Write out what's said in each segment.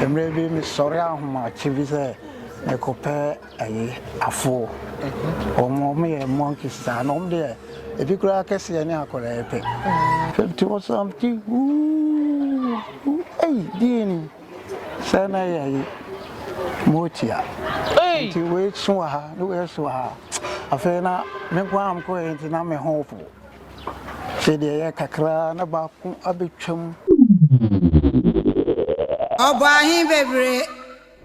Mmerɛ bi mesɔre ahomakye bi sɛ mekɔpɛ ayi afoɔ. Wɔn wɔn yɛ monkeys saa na wɔn deɛ ebi koraa akɛseɛ ne akwadaa yi pɛ. Hwɛ mete hɔ saa mete huuuu hu ei deɛ ni sɛ na yɛ ayi motia. Nti wei so wɔ ha ne wei so wɔ ha. Afei na me nko ara mekɔɛ nti na me ho po. Afei deɛ ɛyɛ kakra ara na baako abɛtwam. Ɔbɔ ahe bebree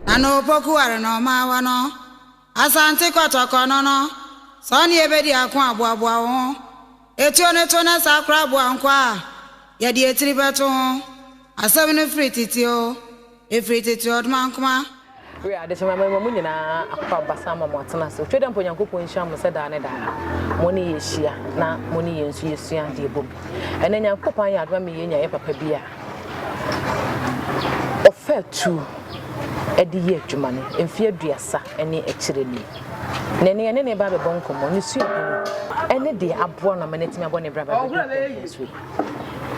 na na Opoku ware na ɔma awa no. Asante kɔtɔkɔ no no, sɛ ɔne yɛ bɛdi ako a, boaboa wo ho. Etuo no to na saa koraa boa nkwaa a yɛde etiri bɛto ho. Asɛm no firi tete oo. Ɛfiri tete ɔdomankoma. Were ade kye mama mu nyinaa akokɔ abasa ama mo atena ase otwa da mpo Nyankopɔn nhyira mo sɛ daa ne daa mo ne yɛ hyia na mo ne yɛn nso yɛ sua ade ɛbom ɛnɛ Nyankopɔn ayɛ adom ama yɛn nya yɛ papa bi a ɔfa atuo ɛde yɛ adwuma no mfeɛ aduasa ɛne akyire ni na ɛne ɛne ne ba bɛbɔ nkɔmmɔ ne sua bi no ɛne deɛ aboa no ama no atumi abɔ ne bra ba bɛdɔ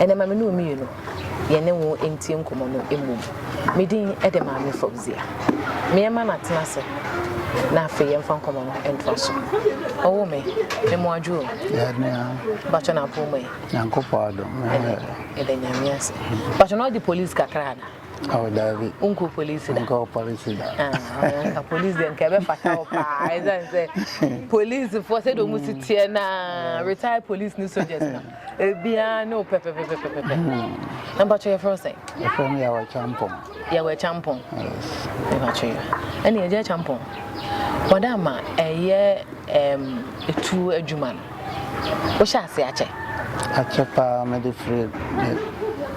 ɛnɛ ma me ne omienu yɛne wo ntie nkɔmmɔ no mmom. Me din de Maame Fauzia. Meɛma no atena ase na afei yɛmfa nkɔmmɔ no ntoa so. Ɔwo me, me mo adwo o. Bàtchɔ na apɔn mu ɛ. Nyankopɔn adom. Ɛdɛ nyame ase. Bàtchɔ na ɔde polisi kakra ana? Oh, David. Uncle police da. Uncle police da. Ah, police dem kebe fatal pa. Police for say do musi tie na retired police ni soldiers na. Ebiara ne wo pɛpɛpɛpɛpɛpɛ. Na mpatsɔ yɛfrɛ wo sɛn? Yɛfrɛ me Yawɛ Kyampɔn. Yawɛ Kyampɔn. Yes. Mpatsɔ yɛ. Ɛne Agya Kyampɔn. Wɔda ama ɛyɛ ɛm etuo adwuma no. Wohyɛ ase akyɛ? Akyɛ paa mede firi me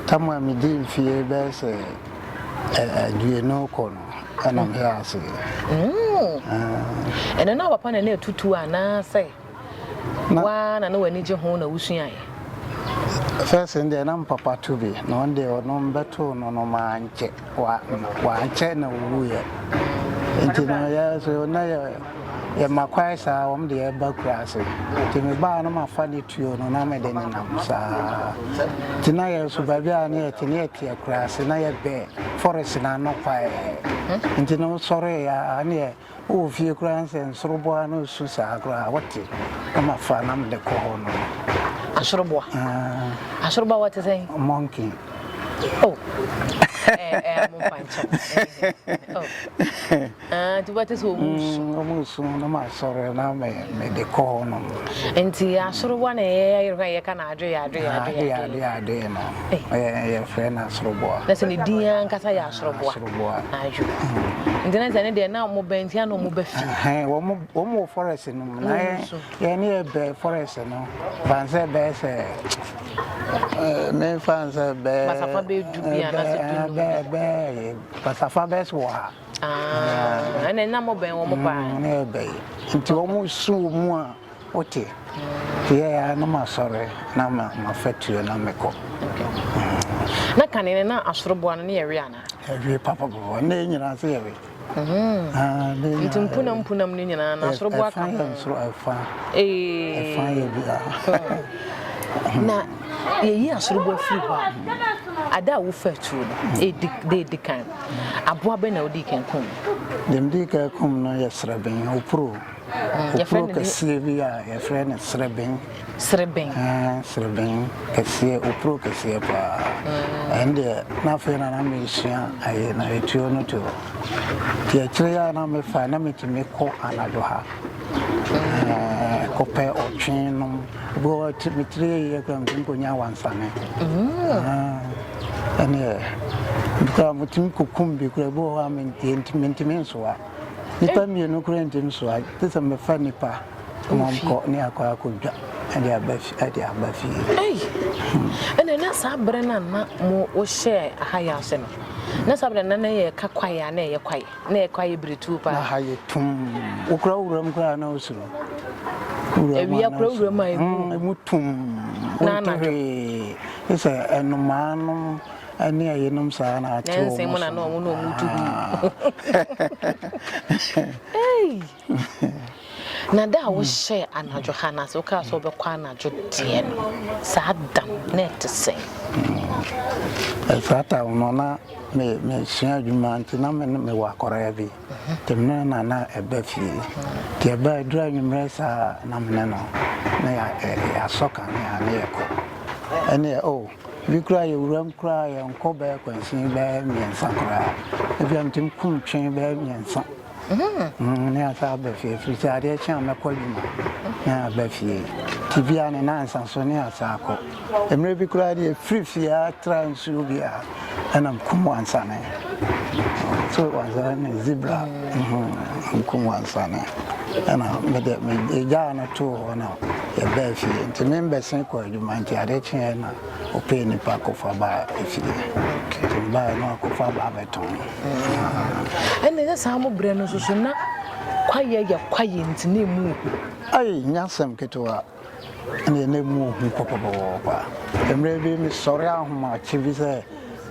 tam a medi mfie bɛyɛ sɛ aduonu kɔ no ɛna meyɛ ase. Mm. Ɛno na papa na na etutuo anaasɛ? Wo ara na na w'ani gye ho na wusuae. First no deɛ na mpapa to bi na ɔno deɛ ɔno mbɛtoo no no maa nkyɛ wa wankyɛ na owuiɛ nti no yɛ so na yɛ yɛma kwae saa wɔn deɛ ɛba kura ase nti mebaa no mafa ne tuo no na mede ne nam saa nti na yɛ so baabi a ne yɛte ne yɛte akura ase na yɛbɛ forest na ano kwae nti no sɔre ya ne yɛ wowɔ fie koraa no sɛ nsoroboa no su saa koraa wote na mafa na mede kɔ hɔ no asoroboa ah. asoroboa wɔte sɛn monkey oh nti wobɛte sɛ ɔmusu na masɔre na mede kɔ hɔ no nti asoroboa na ɛyɛyɛyereka yɛka na adwe yɛ adwe yɛ adwe yɛ adwe yɛ adwe no yɛfrɛ no asoroboa na sɛ ne din ankasa yɛ asoroboa Ɔboa. Ayo. Nti na sɛ ne deɛ na wɔn bɛn nti na wɔn bɛ fi. Ɛhɛn wɔn wɔn wɔ forest no mu na yɛ yɛ ne yɛ bɛ forest no fansɛ bɛyɛ sɛ ɛɛ me fansɛ bɛɛ. Basafa bɛ du bi a na sɛ du num. Bɛɛ bɛɛ basafa bɛɛ so wɔ ha. Aa ɛna na mo bɛn wɔn paa. Ne yɛ bɛyɛ nti wɔn su mu a. Wote? Yɛɛ ara na masɔre na ma fatuo na mekɔ. Na kane no na asoroboa no ne yɛwe anaa? Yɛwe papapapa, nnɛ yi nyinaa nso yɛwe. Nti mpunam mpunam no nyinaa na asoroboa ka ho? Ɛfa yɛ nsoro ɛfa, ɛfa yɛ bia. Na yɛyi asoroboa firi hɔ a, ada a wofa atuo no, da ɛdi kan, aboa bɛn na wodii kan kum? Deɛ medii kan kum no yɛ sraben, opuro. Opuro kɛseɛ bi a yɛfrɛ no sereben. Sereben. Sereben kɛseɛ, opuro kɛseɛ paa. Ɛn deɛ na afei na na mesua ayɛ na etuo no to. Ti akyire yɛ a na mefa na metumi kɔ anadwo ha. Kɔpɛ ɔtwe nom. Bɔ metiri yɛ kura metumi kɔnya wansane. Ɛneɛ, kura metumi kɔkum bi kura bi wɔ hɔ a mentumi nsoa. Nnipa mmienu koraa nti no so a, te sɛ mɛfa nnipa ma ɔmkɔ ne akɔ akɔdwa ɛde aba fi ɛde aba fie. Ei, ɛna na saa berɛ no a na mo wohyɛɛ aha yɛ ase no, na saa berɛ na na yɛ ka kwaeɛ a na ɛyɛ kwaeɛ, na ɛyɛ kwaeɛ biretuo paa. Na ha yɛ tum, wokura wuram koraa na wosuro. Awia kura wuram a ɛmu. Ɛmu tum, wonte hwee, ɛsɛ ɛnomaa nom. ɛne ɛyenom saa na ate wɔn so na wɔn na wɔn tu na da a wohyɛ anadwo ha na so kaa sɛ wobɛkɔ anadwo deɛ no saa da no na ɛte sɛ ɛfata no na mesua adwuma nti na mewɔ akɔraa bi Temmerɛ na na ɛba fie. Nti ɛba a, ɛduru anwummerɛ saa a, na me ne no, na yɛasɔ kanea na yɛkɔ. Ɛnneɛ o, ebi koraa yɛwura mu koraa a, yɛnkɔ bɛyɛ akwansin bɛyɛ mmiɛnsa koraa. Ebia metumi kum twe bɛyɛ mmiɛnsa na yɛasan aba fie, ɛfiri sɛ adeɛ kye a mɛkɔ adwuma na yɛaba fie. Nti bi a ne nnansa so na yɛasan akɔ. Mmerɛ bi koraa deɛ, yɛfiri fie a, tra nsuo bi a. ɛna nkum wansane so wansane ne zebra nkum wansane ɛna mede megyaa no too hɔ na yɛbɛɛ fie nti me mbɛse kɔ adwuma nti ade kyeɛ na ɔpɛ nipa kɔfa baa fie nti baa no akɔfa baa bɛtɔn ɛne sɛ saa mo berɛ no nso so na kwayɛ yɛ kwayɛ nti na ɛmu ayi nyasɛm ketewa na yɛn nan mu hu pɔpɔpɔpɔ. Mmerɛ bi mesɔre ahomakye bi sɛ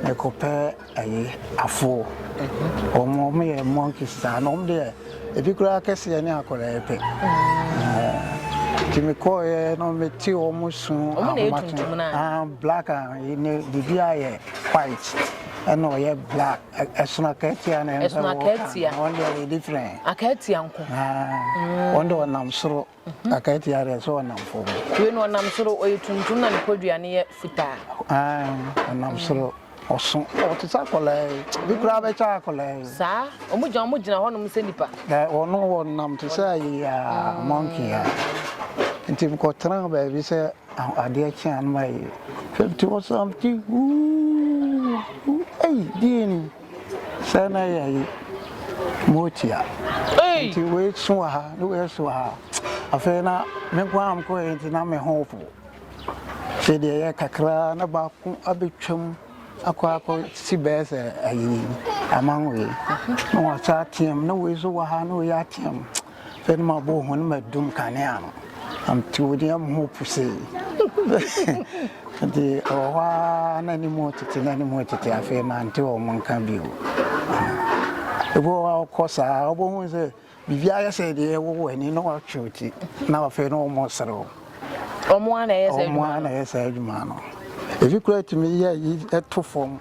mekɔpɛ ɛyi afoɔ. Wɔn wɔn yɛ monkeys saa na wɔn deɛ ebi koraa kɛseɛ ne akwadaa pɛ. Nti mekɔɔyɛ na mete wɔn su ahomakye ah black ah ne bibi ayɛ white ɛna ɔyɛ black ɛsono akatia na ɛnso wɔn deɛ yɛ different. Akatia nko. Wɔn deɛ wɔnam soro. Akatia deɛ sɛ ɔnam fam. Wei no ɔnam soro ɔyɛ tuntum na ne podua no yɛ fitaa. Ae ɔnam soro ɔso ɔte sɛ akwadaa yi bi koraa bɛkyɛ akwadaa yi. Saa wɔn gyina wɔn gyina hɔnom sɛ nipa. Dɛ wɔn wɔnam te sɛ ayi a monkey a nti mekɔtena baabi sɛ adeɛ kye a na mayɛ fifty ɔsam ti wuu ei deɛ ni. Sɛ na yɛ yi moti a nti wei so wɔ ha ne wei so wɔ ha afei na me nko ara mkɔ yɛ nti na me ho po afei deɛ yɛ kakra na baako abɛtwam akɔ akɔ si bɛɛ sɛ ayi aman wei na wɔsa ateam na wei so wɔ ha na wei ateam Afei no mabɔ ho no madum kanea no amte wo deɛ ho pusee nti ɛwɔ hɔ a na ne mu tete na ne mu tete afei mante wɔ mo nka bio ebi wɔ hɔ a wokɔ saa wobɛhu sɛ biribi ayɛ sɛ deɛ ɛwowɔ ani na watwe wo ti na afei na wɔmmɔ serew ɔmo a na ɛyɛ saa adwuma no ebi kura tumi yɛ yi ɛto fam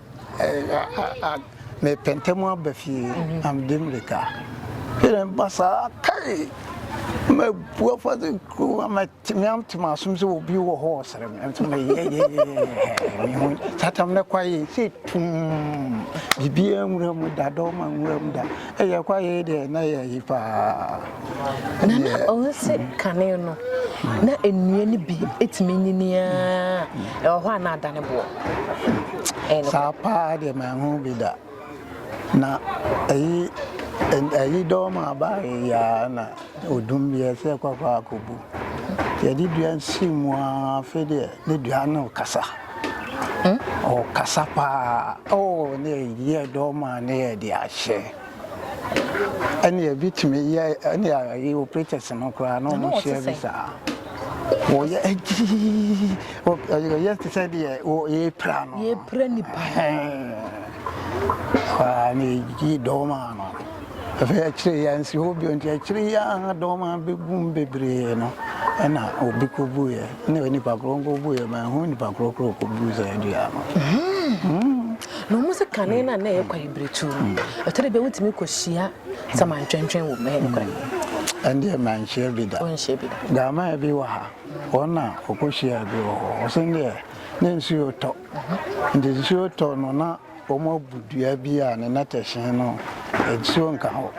Mepɛ ntɛm aba fie, na mede mmirika. Hwɛ dɛ meba saa a, kai! Na mabu afa sɛ kurom a matumi ate m'asom sɛ obi wɔ hɔ ɔsrɛ me. Nso meyɛyɛyɛyɛyɛ me ho saa tam no kɔ ayɛ sɛ tumm. Biribiara nwura mu da, dɔm a nwura mu da. Ɛyɛ kɔ ayɛ deɛ na ɛyɛ ayi paa. Na na ɔnse kane no, na nnua no bi tumi nyini ara, ɛwɔ hɔ a na adane boɔ. Ɛyɛ nokorɛ. Saa paa deɛ manhu bi da. Na ɛyi ɛyi dɔm a baayɛ yi ara na odum bi ɛsɛ yɛ kɔ kɔ akɔbu. Yɛde dua si mu ara afei deɛ ne dua no kasa. Ɔkasa paa. Oh ne yɛ dɔm a ne yɛde ahyɛ. Ɛne ɛbi tumi yɛ ɛne ayɛ operators no koraa na wɔn hyɛ bi saa wɔyɛ agyii wɔyɛ te sɛ deɛ wɔyɛ pra no yɛ pra nipa paa na ɛyi dɔɔma no afei akyire yɛ nsi hɔ bio nti akyire yɛ a dɔɔma bɛgum bebree no ɛna obi kɔbuiɛ ne nipa korɔ nkɔbuiɛ ma ɛho nipa korɔ korɔ kɔbu sɛ adua no hmm. na wɔn sɛ kane no a na ɛyɛ kwae biretuo no, ɛtɔ da bi a wotumi kɔhyia samantwentwen wɔ mu. Ɛyɛ nokorɛ? Ɛndeɛ manhyia bi da. Wonhyia bi da. Gamaa bi wɔ ha, wɔn na wɔkɔhyiaa bi wɔ hɔ. Wɔse deɛ na nsuo retɔ. Nti nsuo retɔ no na wɔabu dua bi a ne nnɛtɛhye no nsuo nka hɔ.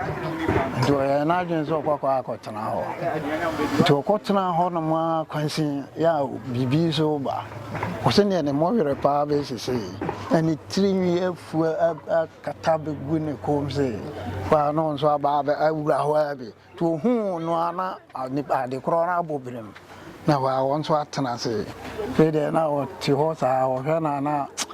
Nti ɔyɛɛ n'adwene sɛ ɔkɔkɔ akɔtena hɔ. Nti ɔkɔtenaa hɔnom ara kwansin, yɛ a biribi nso reba. Ɔse neɛ ne mmɔ werɛ paa bɛyɛ sesei na ne tirinwi afu akata abɛgu ne kɔm se hɔ a na ɔno nso aba awura hɔ ara bi nti ɔhuu no a na ade korɔ no abɔ birim na hɔ a ɔno nso atena ase. Afei deɛ na ɔte hɔ saa ɔhwɛ no a na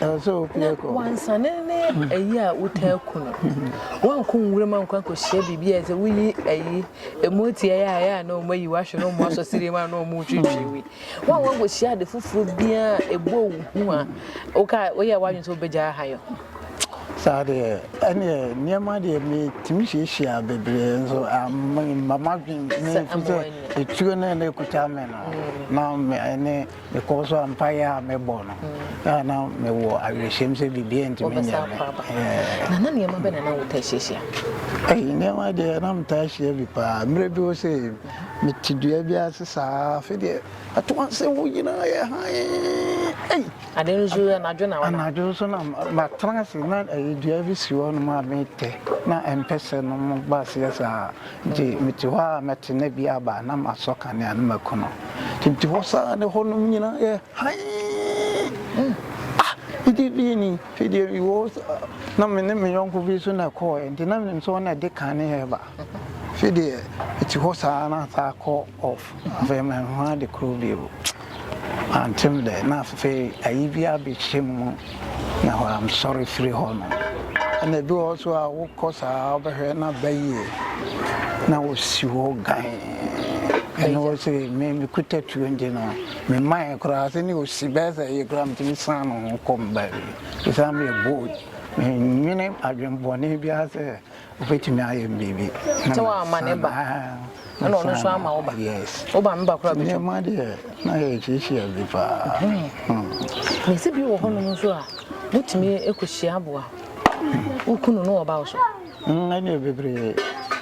Na wansane ne ayi a wotaa ku no. Woankɔ nwuram ankɔ ankɔhyia biribi a sɛ woyi ayi emu atiae a ɛyɛ a na wɔn ayi wahwe na wɔn asɔ siri mu a na wɔn retwitwi wi. Woankɔ ankɔhyia ade foforɔ biara a ɛbɔ wo hu a woka woyɛ w'adwene sɛ wobɛgya aha yɛ ho. Saa deɛ ɛneɛ nneɛma deɛ metumi hyiahyia bebree nso amma m'adwene ne nso sɛ ɛtuo no ɛna ɛkuta me no na ɛne Mekɔɔ so a, mpaeɛ a mebɔɔ no, a na mewɔ awerɛhyɛm sɛ biribiara ntumi nyɛ me. Na na nneɛma bɛn na na wotaa hyiahyia? Ɛyi, nneɛma deɛ na metaa hyia bi paa. Mmerɛ bi wɔ sɛ mete dua bi ase saa, afei deɛ ato ase hɔ nyinaa yɛ hann. Ade nso anadwo na wɔnam. Anadwo nso na matena ase na ɛyɛ dua bi si hɔ nom a metɛ na mpɛsɛ nom ba aseɛ saa. Nti mete hɔ ara mɛte nna bi aba na masɔ kanea na maku no. Nti mete hɔ saa na hɔnom nyinaa yɛ hann. Ah! Ɛdeɛ bie ni? Afei deɛ mewɔ hɔ saa na me ne me yɔnko bi nso na ɛkɔeɛ nti na menim sɛ ɔno na ɛde kanea reba. Afei deɛ mete hɔ saa na asa akɔ off. Afei manhu ade koro bio. Mante'm dɛ na afei ayi bi abekye mu na wɔansɔre firi hɔ no. Ɛna ebi wɔ hɔ nso a wokɔ saa wobɛhwɛ na bɛyɛ na wosi hɔ gann. Ɛna wɔse me mekuta tuo nti no memaeɛ koraa sɛ ne osi bɛyɛ sɛ ayi koraa metumi san me ho kɔ me baabi. Ɛsiane me bold, mennwene adwene bɔne biara sɛ Wobɛtumi ayɛ no biribi. Sɛ wama ne ba, ɛna ɔno nso ama wo ba. Woba me ba koraa bɛtwa. Nneɛma deɛ na yɛ kyiakyia bi paa. Na ɛsɛ bi wɔ hɔnom nso a wotumi kɔhyia aboa. Woku no na ɔba wo so. Ɛne bebree.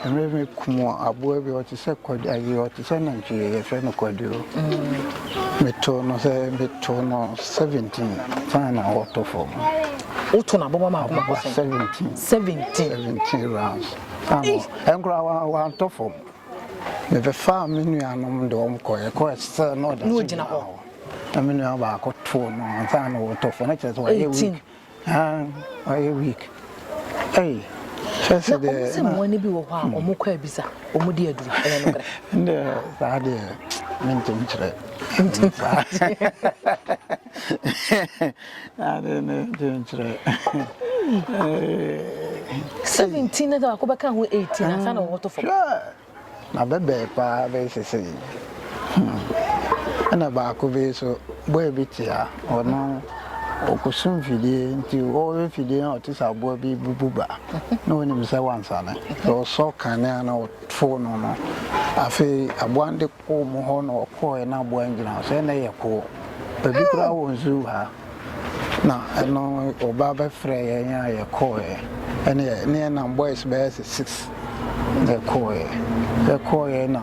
Ɛmɛ bi kum aboa bi ɔte sɛ kɔde ayi ɔte sɛ nantwie yɛfrɛ no kɔduro. Meto no sɛ meto no seventeen fana na ɔtɔ fam. woto no aboma mako mako sɛn. seventeen seventeen seventeen rounds ano ɛnkora wa wantɔ fam mebɛfaa me nuanom de wɔn kɔ ɛkɔ ɛsɛ na ɔda so gyina hɔ na me nua baako too no ansa na wɔtɔ fam na kyerɛ sɛ wɔayɛ week wɔayɛ week ɛyi kyerɛ sɛ deɛ na sɛ mmoa no bi wɔ hɔ a hmm. wɔn kɔ abisa wɔn di aduru ɛyɛ no korɛ ɛnna saa deɛ mentumi kyerɛ ntumi Ade ne nkyerɛ. Seventeen na baako bɛka ho eighteen ansa na wɔbɛto fam. Na bɛbɛɛ paa bɛyɛ sɛ sɛ yi. Ɛna baako bi so boy bi te a ɔno ɔkɔsu mfidie nti ɔwɔ mfidie na ɔte sɛ aboa bi bubu ba na ɔnim sɛ wansane sɛ ɔsɔ kanea na ɔtoo no no afei aboa no de Wɔ mo hɔ na wɔkɔɔɛ na aboa ngyina hɔ sɛ nɛ yɛ koo bɛbi koraa wɔ nzuu ha na ɛno ɔbaa bɛ frɛɛ yɛn a yɛ kɔɔɛ ɛneɛ ne yɛ nam boys bɛyɛ sɛ six na yɛ kɔɔɛ yɛ kɔɔɛ na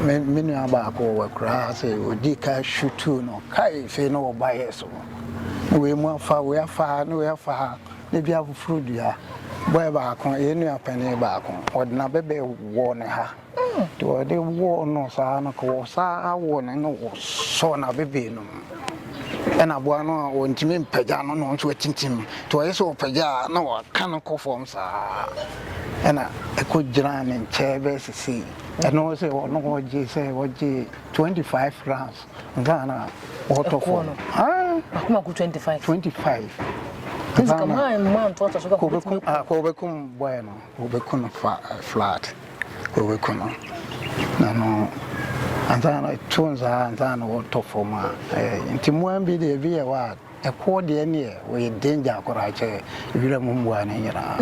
me me nua baako wɔ akuraa ha sɛ ɔdii ka shutuu no kai fei ne wɔ bayɛ so ne wei mu afa wei afa ha ne wei afa ha ne bi afoforo dua boy baako yɛ nua panin baako ɔdena bɛ bɛ wɔ ne ha. Nti wɔde wɔɔ no saa no ka wɔ saa wɔ no na wɔsɔɔ no abebee no ɛna aboa no a wɔntumi mpagya no na ɔnso atintim nti wɔyɛ sɛ ɔpagya a na wɔaka no kɔ fam saa ɛna ɛkɔ gyinaa ne nkyɛn bɛyɛ sese ɛno sɛ ɔno ɔgye sɛ ɔgye 25 rounds nsa na ɔtɔ fam akoma ko 25 25 kɔbɛkum bɔɛ no Wɔbɛku no fa flat wɔbɛku no na no ansa na ɛto nsaa ansa na wɔtɔ fam a ɛyɛ nti mmoa bi deɛ ebi yɛ hɔ a ɛkoɔ deɛ neɛ wɔyɛ danger koraa kyɛ wira mu mmoa no nyinaa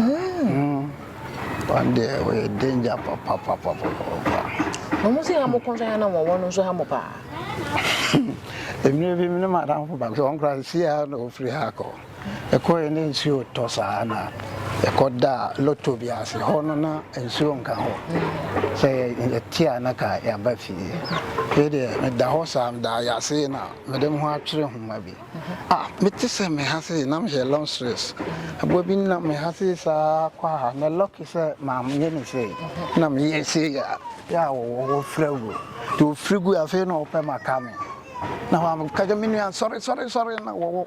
wɔn deɛ wɔyɛ danger papapapapapa. Wɔn sɛ ha mo kɔnsa yɛ na wɔn wɔn nso ha mo paa. Mmerɛ bi ne madamfo baako sɛ wɔn koraa si ha na wɔfiri ha kɔ Ɛkɔeɛ na nsuo retɔ saa na ɛkɔdaa lotto bi ase. Hɔ no na nsuo nka hɔ. Sɛ yɛte a na ka yɛaba fie. Wei deɛ meda hɔ saa meda ayase na mede me ho atwere nwoma bi. Ah mete sɛ me ha sei na mehyɛ long sleeves. Aboa bi nam me ha sei saa kɔ ha na lucky sɛ manyɛ no sei. Na meyɛ sei a yɛ a wɔfira gu. Nti wɔfiri guiɛ afei na wɔpɛ maka me. Na wɔka kyerɛ me nua sɔre sɔre sɔre na wɔwɔ.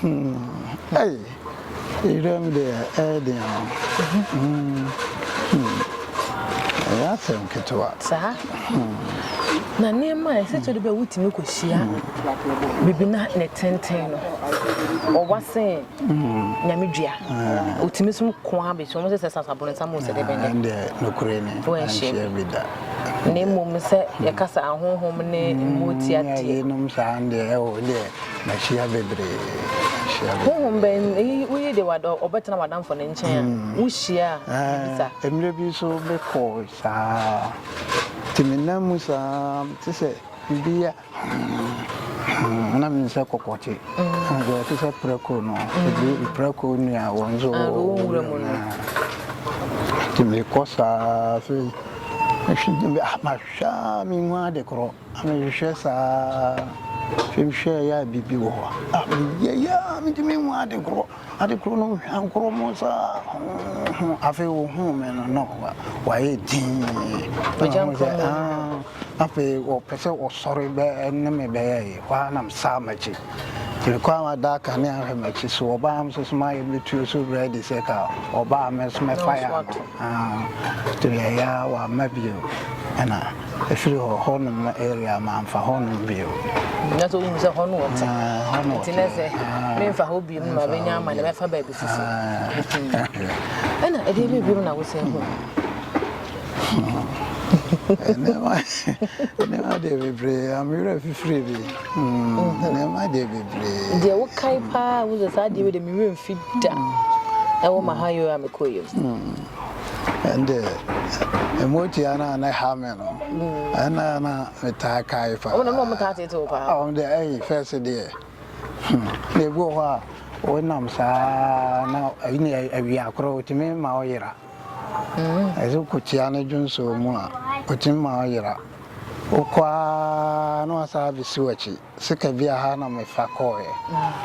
Humm ei Ewuram deɛ ɛyɛ den o Humm humm ɛyɛ asɛm ketewa Saa Humm. Na nneɛma a ɛsɛ sɛ ɔde bɛ wotumi kɔhyia biribi na ne tenten no ɔwa sen Nyame dua Ɔtumi som ko ara bɛhyia wɔn sɛ sɛ sasa boronsam o sɛ dɛbɛn dɛbɛn Ɛndeɛ nokorɛ ni ɛnhyia bi da Na mmom sɛ yɛka sɛ ahonhom ne mmoa tiateɛ Yeinom saa ndeɛ ɛwɔ deɛ Mahyia bebree, mahyia bebree. Honhom bɛn ni woyi de w'adɔ ɔbɛtena w'adamfo no nkyɛn a wohyia a wobisa? Ɛɛ, mmerɛ bi nso mekɔ saa ara, nti menam mu saa ara, mete sɛ biribi yɛ hmm, na menim sɛ kɔkɔ te. Wohu sɛ ɔte sɛ prako no, ɛduru prako nua wɔ nso wɔ nwura mu no. Nti mekɔ saa ara, afei mahwɛ a menhu ade korɔ. Mehwehwɛ saa hwehwɛɛ yɛ a biribi wɔ hɔ a, meyɛ yɛ a mentumi nhu ade korɔ, ade korɔ no hwankoro mu saa ho afei wɔhuu me no na wayɛ din afei wɔpɛ sɛ wɔsɔre bɛɛ ne me bɛyɛ yi hɔ a nam saa m'akyi mekɔ a wada aka ne ahwɛ m'akyi so ɔbaa m so so mayɛ metuo so ready sɛ ka ɔbaa me so mɛfa yɛ ano nti yɛyɛ a wama bio ɛna Ɛfiri hɔ, hɔnom no area mamfa hɔnom bio. Na sɛ wohu sɛ hɔ no wɔte nti na sɛ memfa hɔ biom no ma bɛnya ama ne bɛfa baabi foforɔ ɛna ɛdeɛ bi biom na wosɛ hu nneɛma deɛ bebree amewerɛ fifiri bi nneɛma deɛ bebree deɛ wokae paa wo sɛ saa deɛ wei deɛ mewerɛ mfi da ɛwɔ ma ha yo a mekɔɔ yam ɛnde mmotua no a na ɛha me no ɛna na metaa kae paa ɔmo na ɔmo taa tete wo paa ɔmo deɛ ɛyi fɛs deɛ hmm, na ebi wɔ hɔ a wonam saa na ɛyi na awia korɔ otumi ma ɔyera hmm. ɛsɛ kokyia ne dwonso mu a otumi ma ɔyera wokɔ a na wasan abɛsi w'akyi Sika bi a ha na mefa kɔɔɛ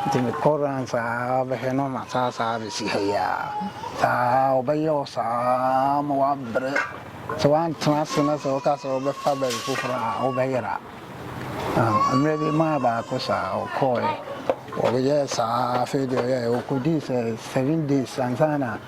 nti mekɔ runs aa bɛhwɛ na ɔma saa saa bɛsi ha yi aa saa ɔbɛyɛ wo saa ma wabrɛ sɛ wantena ase na sɛ woka sɛ wobɛfa baabi foforɔ aa wobɛyera aa mmerɛ bi maa baako saa ɔkɔɔɛ ɔyɛɛ saa afei deɛ ɔyɛɛ ɔkɔdii sɛ seven days ansa na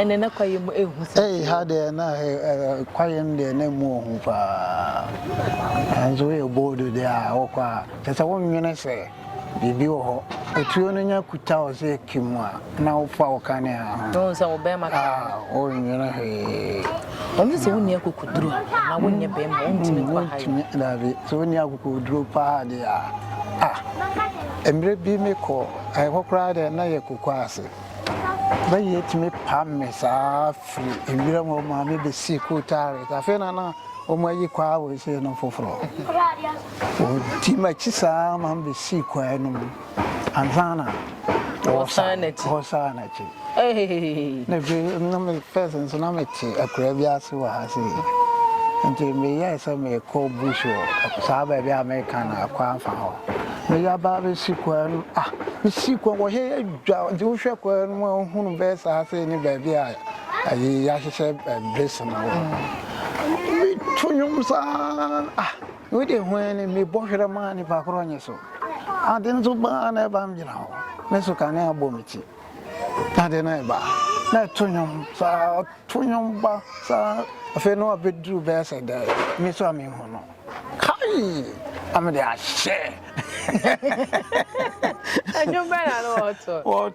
ɛnɛ na kwaeɛ mu ɛhu sɛ ɛyi ha deɛ na kwaeɛ no deɛ na ɛmu ɔhu paa nanso woyɛ bold deɛ a wokɔ a kyɛ sɛ wonwene sɛ biribi wɔ hɔ otuo no nya kuta wo sɛ ɛki mu a na wofa wo kanea ho sɛ wo bɛrima wonwene hwee ɔno sɛ wonni akokoduro na wonyɛ bɛrima wontumi nkɔ ha dabi sɛ wonni akokoduro paa deɛ a ah, mmerɛ bi mekɔ ɛhɔ koraa dɛ na yɛ kokɔ ase bɛyɛ tumi pam me saa firi nwira mu ɔma me bɛsi kotare afei na na wɔn ayi kwaa wɔ ese no foforɔ wɔn ti ma kyi saa ma bɛsi kwaa no mu Ansaana wɔsan n'akyi. Na afei na me first nso na mete akura bi ase wɔ ha sei. Nti meyɛɛ sɛ mekɔ bush wɔ saa baabi a meka no akɔ afa hɔ. Meyɛ aba bɛsi kwan no ah mesi kwan wɔ hɛ adwa nti wohwɛ kwan no mu a wohunu bɛyɛ saa sei ne baabi a ayi yɛahyehyɛ bɛsi no wɔ. Meto nwom saa ah. Wei deɛ hu ara ni, mebɔ hwerɛ maa nipa korɔ nye so. Ade nso ba ara na ɛba megyina hɔ, me so kanea bɔ me ti. Ade no ɛba a na ɛto nnwom saa, ɔto nnwom ba saa afei na wabɛduru bɛyɛ sɛ dɛ me so a menhu no. Kai! Na mede ahyɛ. Nnwom bɛn na na ɔto?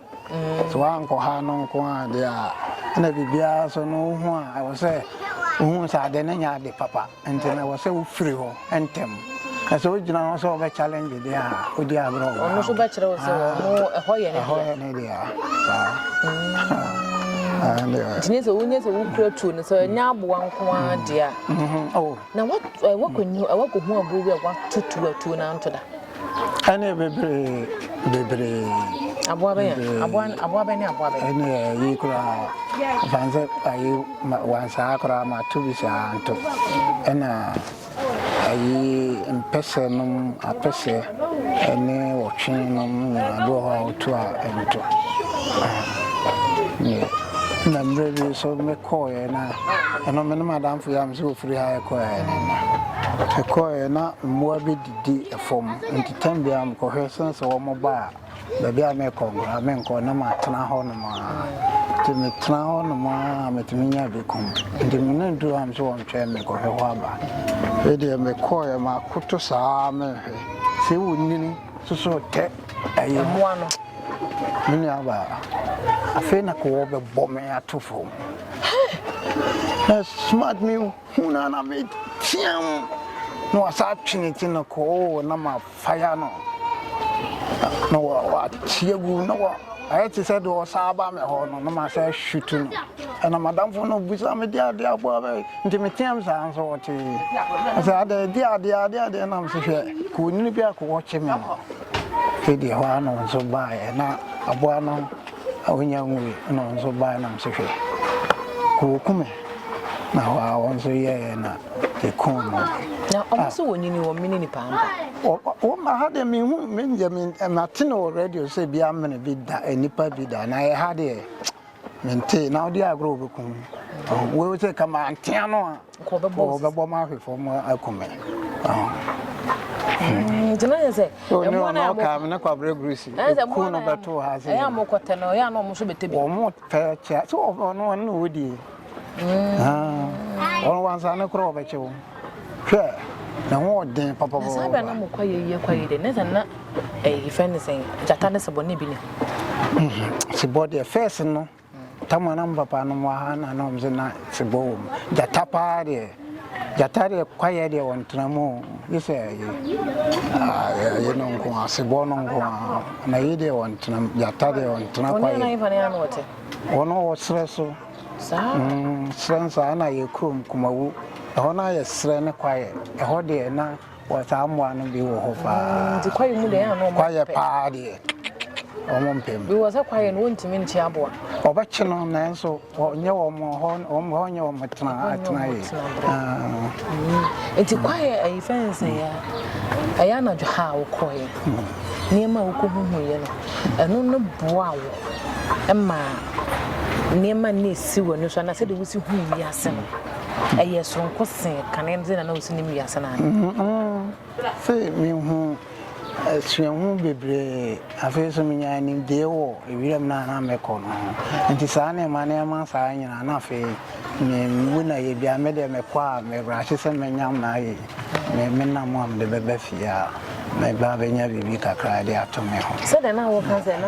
Sɛ woankɔha no nko ara deɛ a, ɛna biribiara nso no wo ho a, ɛwɔ sɛ wohu sɛ ade no nyɛ ade papa. Nti no, ɛwɔ sɛ wofiri hɔ ntɛm. Na sɛ wogyina hɔ sɛ wobɛ challenge deɛ a, wodi agorɔ wɔ ha. Wɔn nso bɛkyerɛ wo sɛ wɔn ho ɛhɔ yɛ ne deɛ. Ɛhɔ yɛ ne deɛ. Saa. Nti nyɛ sɛ wonyɛ sɛ wokura tuo no sɛ ɛnyɛ aboa nko ara deɛ a. Na wɔakɔ nyu, wɔakɔ hu abuo bi a wɔato tuo a tuo no anto da. Ɛne bebree bebree. Aboa bɛyɛ aboa aboa bɛ ne aboa bɛ. Ɛne ɛyi koraa ɛfan sɛ ayi wansaa koraa ma to bi saa nto ɛna ayi mpɛsɛ nom apɛsɛ. ne wɔtwe nom nyinaa bi wɔ hɔ a ɔtu a ɛnto ne na mmerɛ bi so mekɔɔeɛ na ɛno me ne madamfo yɛ am sɛ wɔfiri ha ɛkɔɛɛ no na ɛkɔɔeɛ na mmoa bi didi fam nti tam biara mekɔhwɛ sɛne sɛ wɔmɔba a Baabi a merekɔ koraa menkɔ, na matena hɔnom ara. Nti metena hɔnom ara a metumi nyaa bi kum. Nti me ne duru hɔ a mese wɔntwɛn me nkɔhwɛ hɔ aba. Afei deɛ mekɔeɛ makoto saa ara mehwɛ. Sɛ ɛwɔ nyini soso tɛ ɛyɛ mu ano. Me nuabaa, afei na kowɔ bɛbɔ me ato fam. Na smart me hu na na meteam. Na wasa atwene ti no kɔɔ na ma fire no na wɔakyeɛ gu na wɔ ayɛ te sɛ deɛ ɔsa aba me hɔ no na masɛ hwutu no ɛna madamfo no busa me de adeɛ aboa bɛ nti meteam saa nso wɔtee sɛ adɛ de adeɛ adeɛ adeɛ nam se hwɛ kɔnini bi akɔwɔkye me no ɛdeɛ hɔ a no nso baeɛ na aboa no Ahonya nwui na hɔn so bae nam so hwɛ, wokumee, na hɔ ara hɔn so yɛɛ na yekuun hɔn. Na wɔn so wɔnyini wɔn mene nipa ampa. Wɔn ma ha deɛ mehu menyɛ me mate no wɔ radio sɛ bi amene bi da nipa bi da na ɛha deɛ mente na ɔde agorɔ wɔbɛkum wɔn sɛ kama antea no a Kɔ bɛbɔ ma ahwe fam akum me. Nti na yɛ sɛ ɛmmoa na ɛmɔ. Ɔka ne kwabrɛ gurusi. Ɛku no bɛto ha sɛ. Ɛyɛ ɔmo kɔtɛ no ɛyɛ na ɔmo nso bɛtɛ bi. Ɔmo tɛ kyɛ so ɔno ɔno na ɔdie. Ɔno wansa ne korɔ ɔbɛkyɛ wo. Hwɛ ne ho ɔden papapapa. Saa bɛ na mo kɔ yɛ yie kɔ yɛ dɛ ne sɛ na ɛyɛ fɛn ne sɛn gyata ne sebɔ ne bi ne. Sebɔ deɛ fɛs no. Tam a na mo papa nom wɔ ha na na ɔmo se na sebɔ wɔ mu. Gyata paa deɛ, gyata deɛ kwaeɛ deɛ ɔntena mu o, gye sɛ ɛyi, ɛyi no nko ara, sebɔ no nko ara. Na ɛyi deɛ ɔntena mu, gyata deɛ ɔntena kwaeɛ. Wɔn nana hefa ne na na ɔte? Wɔn wɔ serɛ so. Saa? Mm, serɛ nso a na yɛ kurom Kumawu. Ɛhɔ no ayɛ serɛ ne kwaeɛ. Ɛhɔ deɛ na. Wɔ saa mmoa no bi wɔ hɔ paa. Mm, nti kwaeɛ mu deɛ ɛyɛ a na wɔn Kwaeɛ mpɛ. paa deɛ wɔn mpɛ mu. Bi wɔ sɛ kwaeɛ no wɔntumi nkye aboa. Wɔbɛkye no nanso wɔnyɛ wɔn hɔ wɔn hɔ nyɛ wɔn tena Ɛhɔ nyɛ wɔn atenaeɛ. tena berɛ. Ah, Mm, nti kwaeɛ ayi fɛn sɛ yɛ a ɛyɛ anadwo ha a wokɔeɛ no nneɛma a wokɔhuhuiɛ no ɛno no boa wo ma nneɛma nna ɛsi w'ani so anaa sɛdeɛ wosi hu wiase no ɛyɛ soronko se kane no sɛnea na osi nim wiase no anaa? Afei mihu suahu bebree. Afei nso minyaa nimdee wɔ wiram no a na mekɔ no ho. Enti saa nneɛma nneɛma saa nyinaa na afei miwu na yɛ bi a me deɛ mekɔ a mebrahye sɛ menya m'ayi me me nam a mede bɛba fie a mɛba abɛnya biribi kakra de ato me ho. Sɛdeɛ na woka sɛ na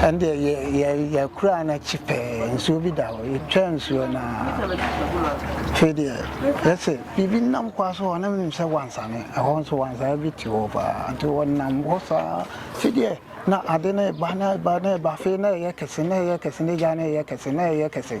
ɛndeɛ yɛ yɛ yɛkura n'akyi pɛɛ nsuo bi da hɔ yɛtwa nsuo no afei deɛ yɛsɛ biribi nam kwa so hɔ na menim sɛ wansane ɛhɔ nso wansane bi te hɔ paa nti wɔnam hɔ saa afei deɛ na ade no ɛba na ɛba na ɛba afei na ɛyɛ kɛse na ɛyɛ kɛse na gya na ɛyɛ kɛse na ɛyɛ kɛse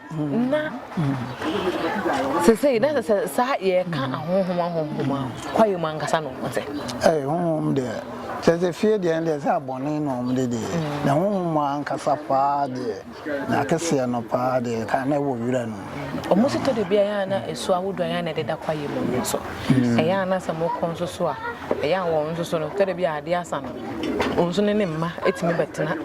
Na sesei na sɛ saa yɛka ahonhom ahonhom a kwae mu ankasa na wɔn te. Ei honhom deɛ kyɛ sɛ fie deɛ no deɛ sɛ abɔne na wɔn de deɛ na honhom mu ankasa paa deɛ na akeseɛ no paa deɛ ka na ɛwɔ wira no mu. Wɔn si tɔ de bi a ɛyɛ a na esu ahodoɔ ɛyɛ a na ɛdeda kwae mu no so ɛyɛ a na sɛ wɔkɔ nso so a ɛyɛ a wɔn nso so no tɔ de bi a adeɛ asa no wɔn nso ne ne mma tumi bɛtena.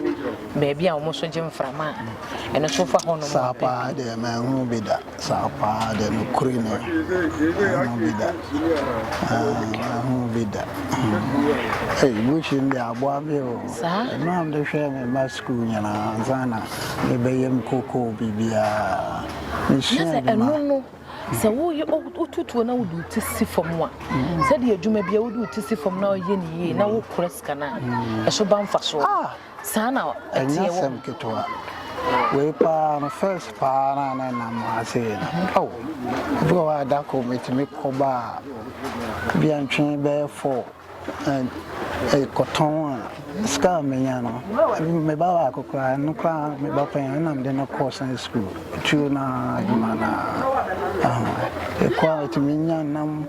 Baabi a wɔn so gye mframa a, ɛno nso fa hɔnom ara pɛ. Saa pa ara deɛ, manhunu bi da. Saa pa ara deɛ, nokorɛ ni, manhunu bi da. Manhunu bi da. Ei, Mushin deɛ, aboa me o. Mmerɛ a mede hwɛɛ me mma sukuu nyinaa, ansa na mebɛyam kokoo biribiara, mesua adwuma. Na sɛ ɛno no, sɛ wotu tuo na wode wo ti si fam a, sɛdeɛ adwuma biara, wode wo ti si fam na woyɛ no yie na wokora sika no a, ɛso ba mfasoɔ. Saa na ɛteɛ wɔ. Ɛnyɛ asɛm ketewa. Wei paa no first paa no a na ɛnam ha sei no, ao, ebi wɔ hɔ a da koro metumi kɔba a, ebi a ntwe bɛyɛ four, ɛkɔtɔn a, sika a menya no, me ba baako koraa, ɛno koraa me ba panyin no na mede no kɔɔ Sunday school, tuo no ara, adwuma no ara, ɛkɔ a metumi nya nam.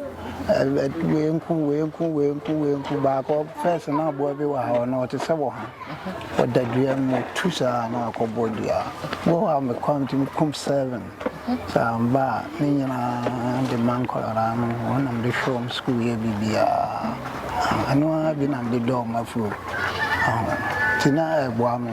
Wei nko, wei nko, wei nko, wei nko. Baako fɛs na aboa bi wɔ ha ɔno ɔte sɛ wɔ ha. Ɔda dua mu tu saa na akɔbɔ dua. Wɔ hɔ a mekɔ a metumi kum seven. Sɛ amba a ne nyinaa de ma nkwadaa no wɔn na mede hwɛ wɔn sukuu yɛ biribiara. Ɛno ara bi na mede dɔ wɔn afiri hɔ. Nti na ɛboa me.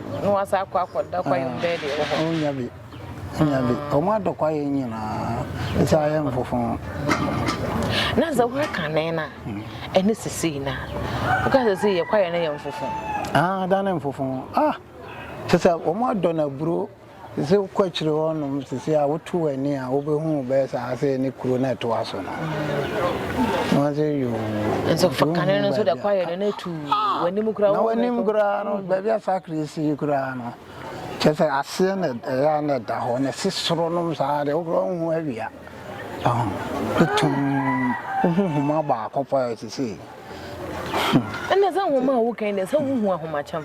Na wɔasa akɔ akɔda kwaeɛm bɛɛ deɛ ɛwɔ hɔ. Ɔnya bi, ɔnya bi. Wɔn adɔ kwaeɛ nyinaa, ɛsɛ ayɛ mfofo. Na sɛ woyɛ kane no a, mm. ɛne sesei no a, woka sɛ sɛ yɛ kwaeɛ no yɛ mfofo. Ah, da ne mfofo. Ah, sɛ sɛ wɔn adɔ no aburo. Sɛ wokɔ akyire hɔ nom sesei a woto w'ani a wobɛhu bɛyɛ sɛ ase ne kuro no a ɛtoa so no wɔnse yoo nso fa kane no nso da kwaeɛ no na ɛtu w'anim koraa na w'anim koraa no baabi a sakre si koraa no kyɛ sɛ aseɛ na ɛyɛ a na ɛda hɔ na ɛse soro nom saa deɛ wokorɔ wohu awia ɛtum wohu homa baako paa sesei ɛnna sɛ nwoma a wokan deɛ sɛ wohu ahomakyɛm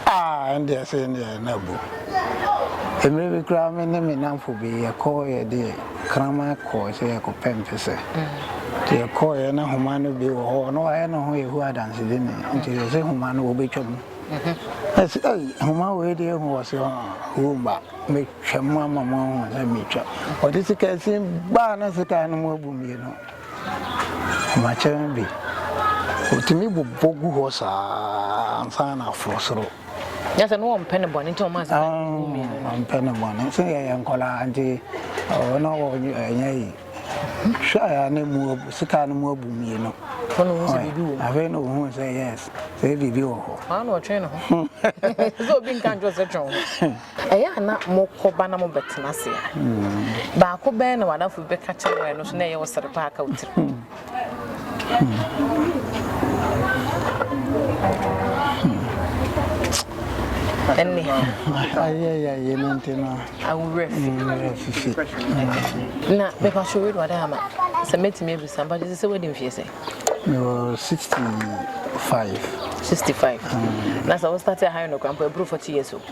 ah ɛndeɛ sɛ ɛndeɛ na bu mmerɛ bi koraa me ne me namfo bi yɛkɔ yɛde kraman kɔɔ sɛ yɛkɔpɛ mpesɛ nti yɛkɔɔyɛ na homa no bi wɔ hɔ na wayɛ ne ho yɛhu adansedi ne nti yɛ sɛ homa no wɔbɛtwa mu ɛsɛ ɛyi homa wei deɛ hu wɔ se womba mɛtwa mu ama mo ahu sɛ metwa ɔde sika sin baa na sika no mu abu mmienu Makyɛrɛn bi, otumi bobɔ gu hɔ saa ansa na aforo soro. Nyɛ sɛ no wɔmpɛ ne bɔne nti wɔn asesa ne ho mmienu. Wɔmpɛ ne bɔne sɛ yɛyɛ nkɔlaa nti wɔn a wɔnyɛ yi hwɛ a ne mu sika no mu abu mmienu. Wɔn ohun sɛ biribi wɔ mu. Afei na ohun sɛ yes sɛ biribi wɔ hɔ. Wɔn na ɔtwe ne ho. Sɛ obi nka nkyɛn sɛ twɛn ho. Ɛyɛ a na mokɔ ba na mobɛtena ase a, baako bɛn na w'adamfo bi bɛka kyerɛ wo a ɛno nso na ɛyɛ wo sere paa ka wo tirim? Ɛnne. Ayɛyɛyɛ no nti no. Aworɛ fi. Aworɛ fifi. Na bɛpa so wei wade ama sɛ mɛtumi abisa mpa kyɛ sɛ wadi mfie sɛ? Mewɔ 65. 65. Na sɛ wo start a high no kora mpo ɛboro 40 years o.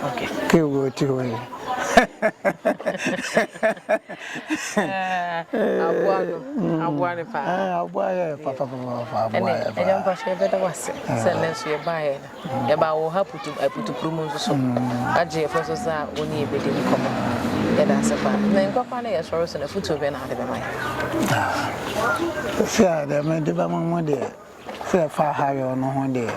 Okay. Ke wo ti ho yi. Aboa no. Mm. Aboa ne pa. Ah, aboa ye pa pa pa pa. Aboa ye pa. Ene mpa hwe be da wase. Se ne so ye ba ye na. Ye ba wo ha putu eh, putu prumu nso so. Aje ye so sa oni ebe di nkomo. Ye da se pa. Na nkwa kwa na ye soro so na futu be na ade be mai. Ah. Se ade me de ba mo mo de. Sɛ ɛfa ha yɔ no ho deɛ,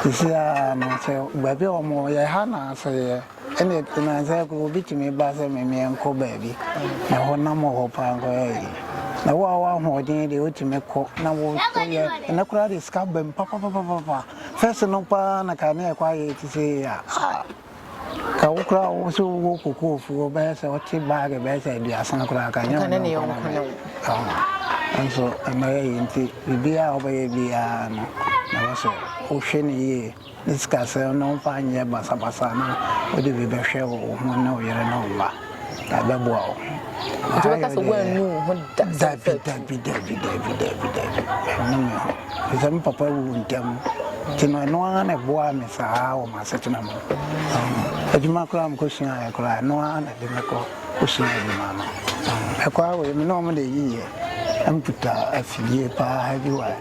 sisi ara no sɛ baabi a wɔwɔ yɛ ha na sɛ yɛ ɛne na sɛ obi tumi ba sɛ me meɛ nkɔ baabi na ɛhɔ nam wɔ hɔ paa nkɔ yɛ yi na wo a wo ahoɔden deɛ wotumi kɔ na wo yɛ ɛnɛ koraa deɛ sika bɛm papapapapa fɛs no paa na ka ne ɛkɔ ayɛ ti sɛ yi a ah Ka wo koraa wo so wo kokoo fuo bɛyɛ sɛ ɔte baage bɛyɛ sɛ aduasa koraa ka nyɛ ɔne yɔnko na bɛyɛ nso ɛma yɛ yɛ nti biribiara a ɔbɛyɛ biara no na wɔ sɛ wohwɛ no yie ne sikasɛm no mfa nyɛ basabasa na wode bi bɛhwɛ wo ho ne wo yere ne wo mma ɛbɛboa wo. Nti bɛka sɛ woannu wo ho da sɛ mfa tu. Dabi dabi dabi dabi dabi ɛnnu me ho. Sɛ me papa wuu ntɛm nti no ɛno ara na ɛboaa me saa wɔ m'asetena mu. Adwuma koraa mekɔsuaeɛ koraa ɛno ara na ɛde me kɔ kɔsuaa adwuma no. Ɛkɔ ara wei me ne wɔn na ɛyiiɛ amputa afidie paa heavy wire.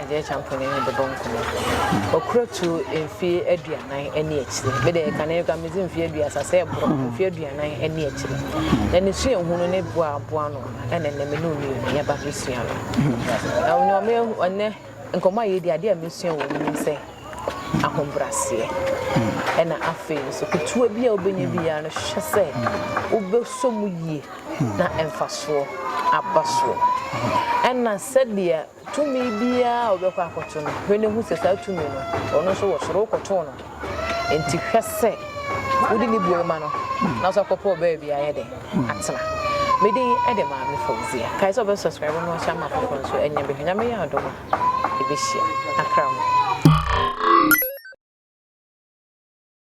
Agya Acheampong ne me bɛbɔ nkɔmmɔ. Ɔkura tu mfeɛ aduanan ne akyire. Me deɛ kane ka medze mfeɛ aduasa sɛ ɛborɔ mm. mfeɛ aduanan ne akyire. Na ne suahu no ne boaboa no ɛne ne me ne ɔnu yɛ yɛba bɛsua no. Mm. Na ɔnyɛ ɔmɛ ɔnɛ nkɔmmɔ a yɛdi adeɛ a mesua wɔ mu ne sɛ ahobraseɛ ɛna mm. afei nso ketewa bi a wobɛnya biara no hwɛ sɛ wobɛsɔ mu yie na mfasoɔ aba soɔ ɛna sɛdeɛ Tumi biara a wobɛkɔ akɔto no, hwɛ na hu sɛ saa tumi no, ɔno nso wɔ soro, wokɔtoo no. Enti hwɛ sɛ wode ne buo ma no, na nso akɔpɛ wɔ baabi ayɛ dɛ atena. Me din de Maame Fauzia. Kae sɛ wobɛ subscribe na wahyɛ ama afoforɔ nso anya bi. Hwɛ Nyame yɛ adom a, yɛbɛhyia. Akra mo.